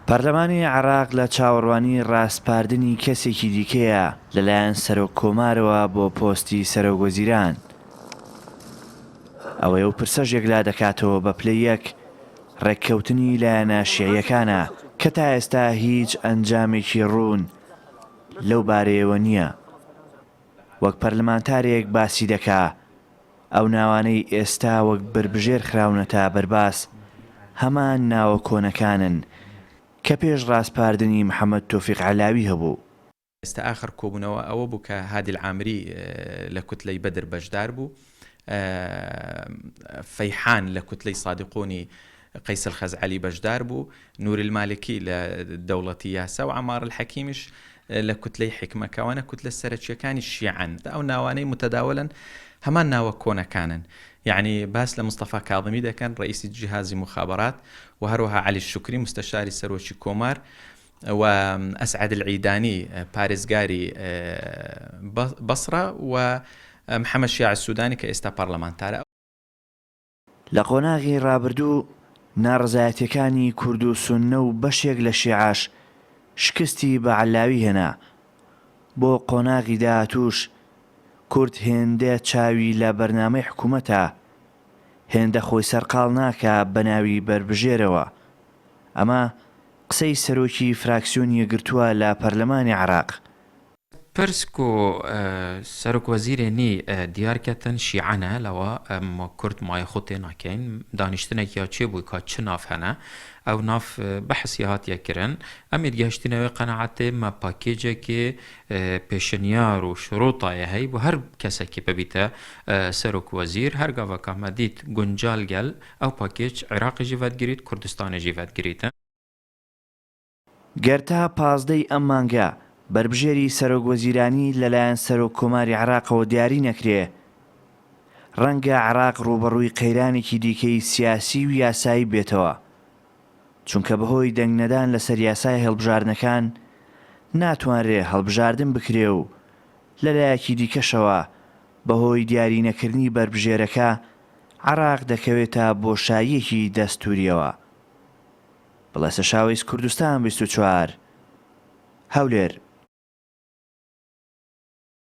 پەرلەمانی عێراق لە چاوەڕوانی ڕاسپاردنی کەسێکی دیکەیە لەلایەن سەرۆک کۆمارەوە بۆ پۆستی سەرۆک وەزیران. ئەوەی ئەو پرسەش یەکلا دەکاتەوە بە پلە یەک ڕێککەوتنی لایەنە شیعیەکانە کە تا ئێستا هیچ ئەنجامێکی ڕوون لەو بارەیەوە نییە. وەک پەرلەمانتارێک باسی دەکا، ئەو ناوانەی ئێستا وەک بەربژێر خراونەتە بەرباس هەمان ناوە کۆنەکانن کە پێش ڕاسپاردنی محەمەد تۆفیق عەلاوی هەبوو. ئێستا ئاخر کۆبوونەوە ئەوە بوو کە هادی العامری لە کوتلەی بەدر بەشدار بوو، فەیحان لە کوتلەی سادقونی قەیس الخەزعەلی بەشدار بوو، نوری المالکی لە دەوڵەتی یاسا و عەمار الحەکیمیش لە کوتلەی حیکمە، کەوانە کوتلە سەرەکییەکانی شیعەن، ئەو ناوانەی متداولن هەمان ناوە کۆنەکانن، یەعنی باس لە مستەفا کاظمی دەکەن رەئیسی جهازی مخابرات و هەروەها عەلی شوکری مستەشاری سەرۆکی کۆمار و ئەسعەد العیدانی پارێزگاری بەسڕە و محەمەد شیاع السودانی کە ئێستا پەڕلەمانتارە. لە قۆناغی ڕابردوو ناڕەزایەتیەکانی کورد و سوننە و بەشێک لە شیعەش شکستی بە عەللاوی هێنا، بۆ قۆناغی داهاتووش کورد هێندە چاوی لە بەرنامەی حکومەتە، هێندە خۆی سەرقاڵ ناکا بە ناوی بەربژێرەوە. ئەمە قسەی سەرۆکی فراکسیۆن یەکگرتووە لە پەرلەمانی عێراق. پرس کو سەرک وەزیرێ نی دیار کەتن شیعە نە لەوە ئەم کورد مایە خو تێ ناکەین دانیشتنەک یا چێ بوی کا چ ناف هەنە ئەو ناف بەحس یا هات یە کرن ئەمێت گەشتنە وێ قەناعەتێ مە پاکێجە کێ پێشنیار و شڕۆ تایە هەی بو هەر کەسە کی ببیتە سەرک وەزیر هەر گاڤە کامە دیت گونجال گەل ئەو پاکێج عراقی ژی ڤەت گریت کوردستانی ژی ڤەت گریتن. گەر تا پازدە ی ئەم مانگە بەربژێری سەرۆک وەزیرانی لەلایەن سەرۆک کۆماری عێراقەوە دیاری نەکرێ، ڕەنگە عێراق ڕووبەڕووی قەیرانێکی دیکەی سیاسی و یاسایی بێتەوە، چونکە بەهۆی دەنگ نەدان لەسەر یاسای هەڵبژاردنەکان ناتوانرێ هەڵبژاردن بکرێ و لەلایەکی دیکەشەوە بەهۆی دیاری نەکردنی بەربژێرەکە عێراق دەکەوێتە بۆشاییەکی دەستووریەوە. بڵێسەشاوەیس کوردستان بیست و چوار هەولێر.